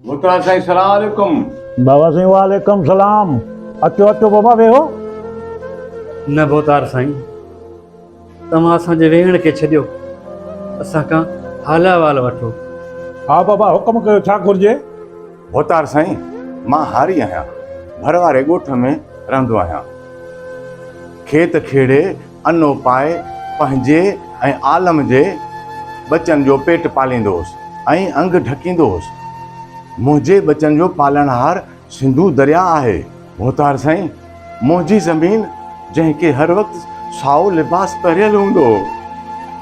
مختار سائين سلام عليڪم بابا سائين وعليڪم سلام اچو اچو بابا ويهو نه بوتار سائين توهان اسان جي ويهڻ کي ڇڏيو اسان کان حال احوال وٺو ها بابا حڪم ڪيو ڇا گهرجي بوتار سائين مان هاري آهيان ڀر واري ڳوٺ ۾ رهندو آهيان کيت کيڙي انو پائي پنهنجي ۽ عالم جي ٻچن جو پيٽ پاليندو هوس ۽ انگ ڍڪيندو هوس. منهنجي ٻچن جو پالڻهار سنڌو درياء آهي. ڀوتار سائين، منهنجي زمين جنهن کي هر وقت سائو لباس پهريل هوندو هو،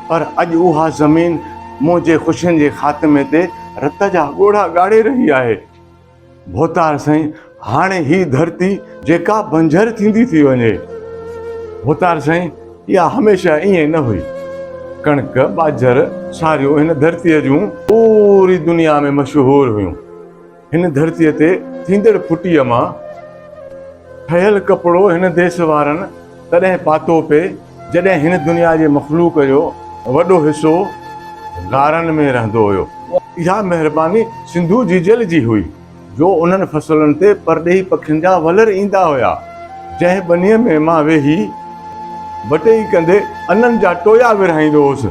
پر اڄ اها زمين منهنجي خوشين جي خاتمي تي رت جا ڳوڙها ڳاڙي رهي آهي. ڀوتار سائين هاڻي هي ڌرتي جيڪا بنجر ٿيندي ٿي وڃي. ڀوتار سائين اها هميشه ائين نه هئي. ڪڻڪ، ٻاجهر، ساريون هن ڌرتي جون پوري دنيا ۾ مشهور هيون. هن ڌرتي تي ٿيندڙ ڦٽي مان ٺهيل ڪپڙو هن ديس وارن تڏهن پاتو پئي، جڏهن هن دنيا جي مخلوق جو وڏو حصو غارن ۾ رهندو هيو. اها مهرباني سنڌو جيجل جي هئي جو انهن فصلن تي پرڏيهي پکين جا ولر ايندا هيا جنهن ٻنيء ۾ مان ويهي بٽئي ڪندي انن جا ٽويا ورهائيندو هوس.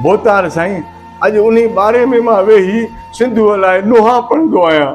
ڀوتار سائين اڄ انهي ٻاري ۾ مان ويهي سنڌوء لاء ڏوها پڙهندو آهيان.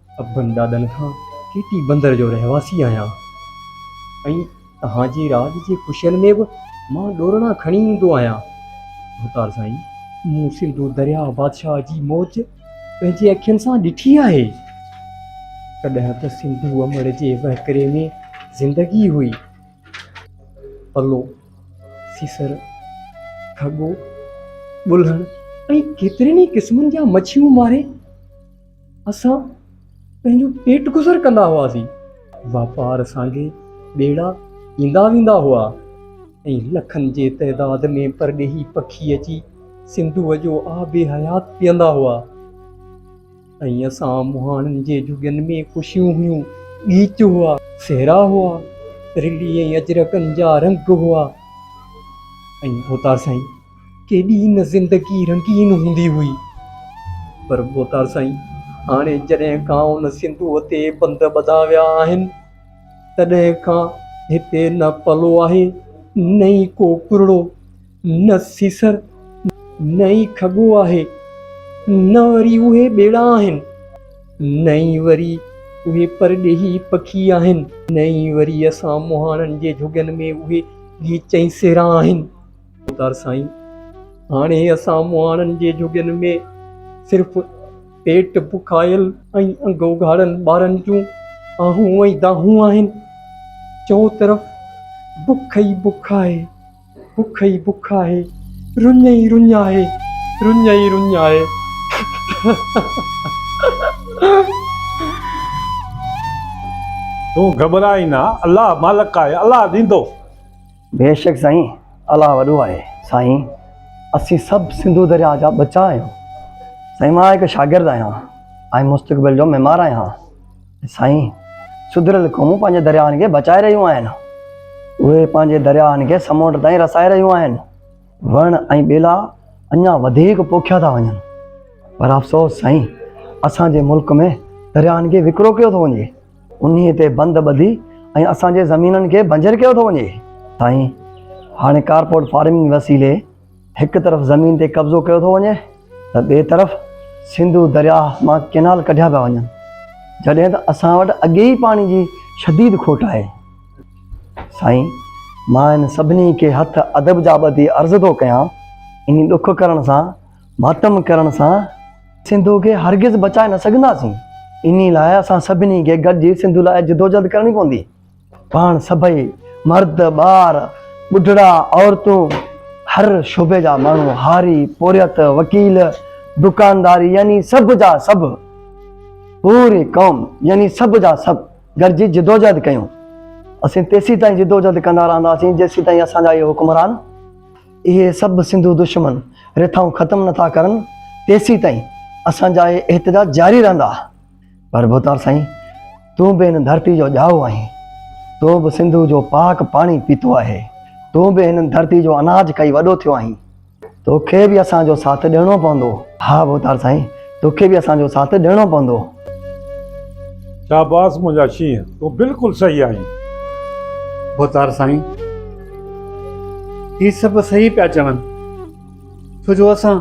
ابن ڏاڏن کان ڪي ٽي بندر جو رهواسي آهيان ۽ توهان جي راڄ جي خوشين ۾ به مان ڏورڻا کڻي ايندو آهيان ڀوتار سائين مون سنڌو درياء بادشاهه جي موج پنهنجي اکين سان ڏٺي آهي ڪڏهن ته سنڌو امڙ جي وهڪري ۾ زندگي هئي پلو سيسر کڳو ٻلهڻ ۽ ڪيترين ئي قسمن جا مڇيون ماري اسان پنهنجو پيٽ گذر ڪندا هئاسين، واپار سانگي ٻيڙا ايندا ويندا هئا ۽ لکن جي تعداد ۾ پرڏيهي پکي اچي سنڌوء جو آب حيات پيئندا هئا ۽ اسان مهاڻن جي جهڳين ۾ خوشيون هيون، ڳيچ هئا، صحرا هئا، رلي ۽ اجرڪن جا رنگ هئا ۽ اوتار سائين! ڪيڏي نه زندگي رنگين هوندي هئي. پر ڀوتار سائين هاڻي جڏهن کان ان سنڌوء تي بند ٻڌا ويا آهن، تڏهن کان هتي نه پلو آهي، نه ئي ڪو ڪرڙو، نه سيسر، نه ئي کڳو آهي، نه وري اهي ٻيڙا آهن، نه ئي وري اهي پرڏيهي پکي آهن، نه ئي وري اسان مهاڻن جي جهڳين ۾ اهي ڳيچ ۽ سيرا آهن. خودار سائين هاڻي اسان مهاڻن جي جهڳين ۾ صرف پيٽ بکايل ۽ انگ اگهاڙن ٻارن جون آهون ۽ دانهون آهن. چئو طرف بک ئي بک آهي، بک ئي بک آهي، رڃ ئي رڃ آهي، رڃ ئي رڃ آهي. تون گهٻرائين نه، الله مالڪ آهي، الله ڏيندو. بيشڪ سائين الله وڏو آهي. سائين اسين سڀ سنڌو درياء جا ٻچا آهيون سائين مان هڪ شاگرد آهيان ۽ مستقبل جو معمار آهيان سائين سڌريل قومون پنهنجي درياهن کي بچائي رهيون آهن اهي پنهنجي درياهن کي سمنڊ تائين رسائي رهيون آهن وڻ ۽ ٻيلا اڃا وڌيڪ پوکيا ٿا وڃن پر افسوس سائين اسان جي ملڪ ۾ درياهن کي وڪرو ڪيو ٿو وڃي انهيء تي بند ٻڌي ۽ اسان جي زمينن کي بنجر ڪيو ٿو وڃي. سائين، هاڻي ڪارپوريٽ فارمنگ وسيلي هڪ طرف زمين تي قبضو ڪيو ٿو وڃي ته ٻئي طرف سنڌو درياهه مان ڪئنال ڪڍيا پيا وڃن، جڏهن ته اسان وٽ اڳي ئي پاڻي جي شديد کوٽ آهي. سائين، مان هن سڀني کي هٿ ادب جا ٻڌي عرض ٿو ڪيان، انهي ڏک ڪرڻ سان ماتم ڪرڻ سان سنڌو کي هرگز بچائي نه سگهنداسين. انهي لاء اسان سڀني کي گڏجي سنڌو لاء جدوجهد ڪرڻي پوندي. پاڻ سڀئي مرد، ٻار، ٻڍڙا، عورتون، هر شعبي جا ماڻهو، هاري، پورهيت، وڪيل، دڪانداري يعني سڀ جا سڀ، پوري قوم يعني سڀ جا سڀ گڏجي جدوجهد ڪيون. اسين تيسيتائين جدوجهد ڪندا رهنداسين جيسيتائين اسان جا اهي حڪمران، اهي سڀ سنڌو دشمن رٿائون ختم نٿا ڪرن تيسين تائين اسان جا اهي احتجاج جاري رهندا پر ڀوتار سائين تون به هن ڌرتي جو ڄائو آهين تو به سنڌو جو پاڪ پاڻي پيتو آهي تون به هن ڌرتي جو اناج کائي وڏو ٿيو آهين توکي به اسان جو ساٿ ڏيڻو پوندو. ها ڀوتار سائين توکي به اسان جو ساٿ ڏيڻو پوندو. شاباس منهنجا شينهن تون بلڪل صحيح آهين. ڀوتار سائين هي سڀ صحيح پيا چون ڇو جو اسان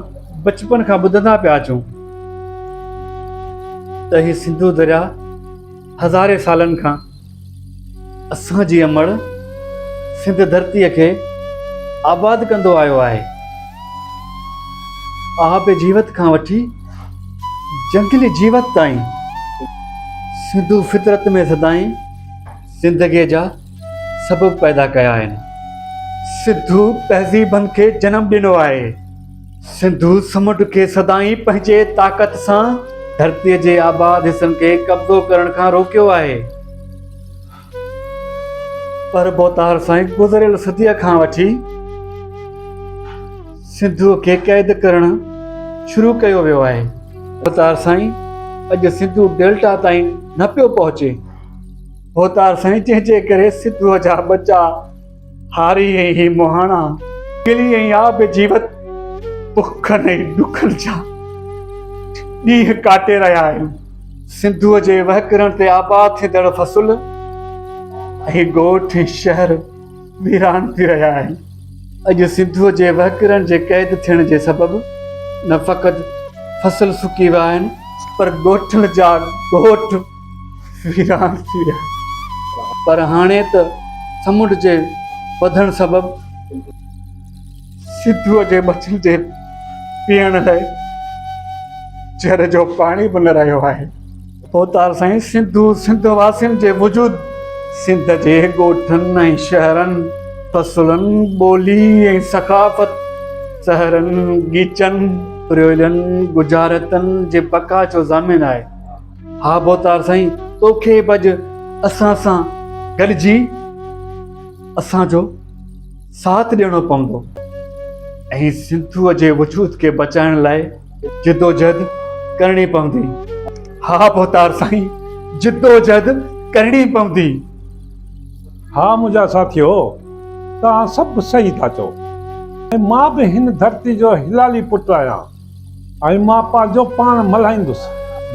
بچپن کان ٻڌندا پيا اچون ته هي سنڌو درياهه هزارين سالن کان اسان جي امڙ سنڌ ڌرتي کي آباد ڪندو آيو آهي. آب جيوت کان وٺي جنگلي جيوت تائين سنڌو فطرت ۾ سدائين زندگي جا سبب پيدا ڪيا آهن. سنڌو تهذيبن کي جنم ڏنو آهي. سنڌو سمنڊ کي سدائين پنهنجي طاقت سان ڌرتي جي آباد حصن کي قبضو ڪرڻ کان روڪيو آهي پر بوتار سائين گذريل صديء کان وٺي سنڌو کي قيد ڪرڻ شروع ڪيو ويو آهي بوتار سائين اڄ سنڌو ڊيلٽا تائين نه پيو پهچي بوتار سائين جنهن جي ڪري سنڌو جا ٻچا هاري ۽ هي مهاڻا، ڪلي ۽ آب جيوت، بکن ۽ ڏکن جا ڏينهن ڪاٽي رهيا آهيون. سنڌوء جي وهڪرن تي آباد ٿيندڙ فصل ۽ ڳوٺ ۽ شهر ويران ٿي رهيا آهن. اڄ سنڌوء جي وهڪرن جي قيد ٿيڻ جي سبب نه فقط فصل سڪي ويا آهن پر ڳوٺن جا ڳوٺ، ويران ٿي ويا پر هاڻي ته سمنڊ جي وڌڻ سبب سنڌوء جي مڇين جي پيئڻ لاء جر جو پاڻي به نه رهيو آهي. ڀوتار سائين سنڌو سنڌ واسين جي وجود سنڌ جي ڳوٺن ۽ شهرن فصلن ٻولي ۽ ثقافت سهرن ڳيچن پريولن ڳجهارتن جي بقا جو ضامن آهي. ها ڀوتار سائين توکي به اڄ اسان سان گڏجي اسان جو ساٿ ڏيڻو پوندو ۽ سنڌوء جي وجود کي بچائڻ لاء جدوجهد ڪرڻي پوندي ها ڀوتار سائين جدوجهد ڪرڻي پوندي ها منهنجا ساٿيو توهان سڀ صحيح ٿا چئو ۽ مان به هن ڌرتي جو هلالي پٽ آهيان ۽ مان پنهنجو پاڻ ملهائيندس.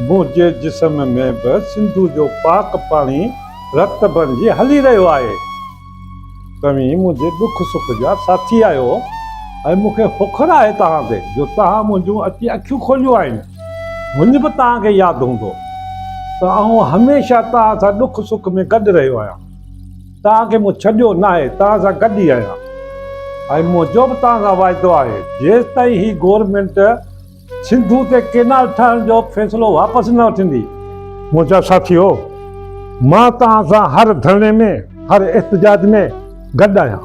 منهنجي جسم ۾ به سنڌو جو پاڪ پاڻي رت بڻجي هلي رهيو آهي. توهين منهنجي ڏک سک جا ساٿي آهيو ۽ مون کي فخر آهي توهان تي جو توهان منهنجون اچي اکيون کوليون آهن. هونئن به توهان کي ياد هوندو ته آئون هميشه توهان سان ڏک سک ۾ گڏ رهيو آهيان. توهان کي مون ڇڏيو ناهي، توهان سان گڏ ئي آهيان ۽ منهنجو به توهان سان واعدو آهي جيستائين هي گورنمينٽ سنڌو تي ڪينال ٺاهڻ جو فيصلو واپس نه وٺندي. منهنجا ساٿيو، مان توهان سان هر ڌرڻي ۾، هر احتجاج ۾ گڏ آهيان.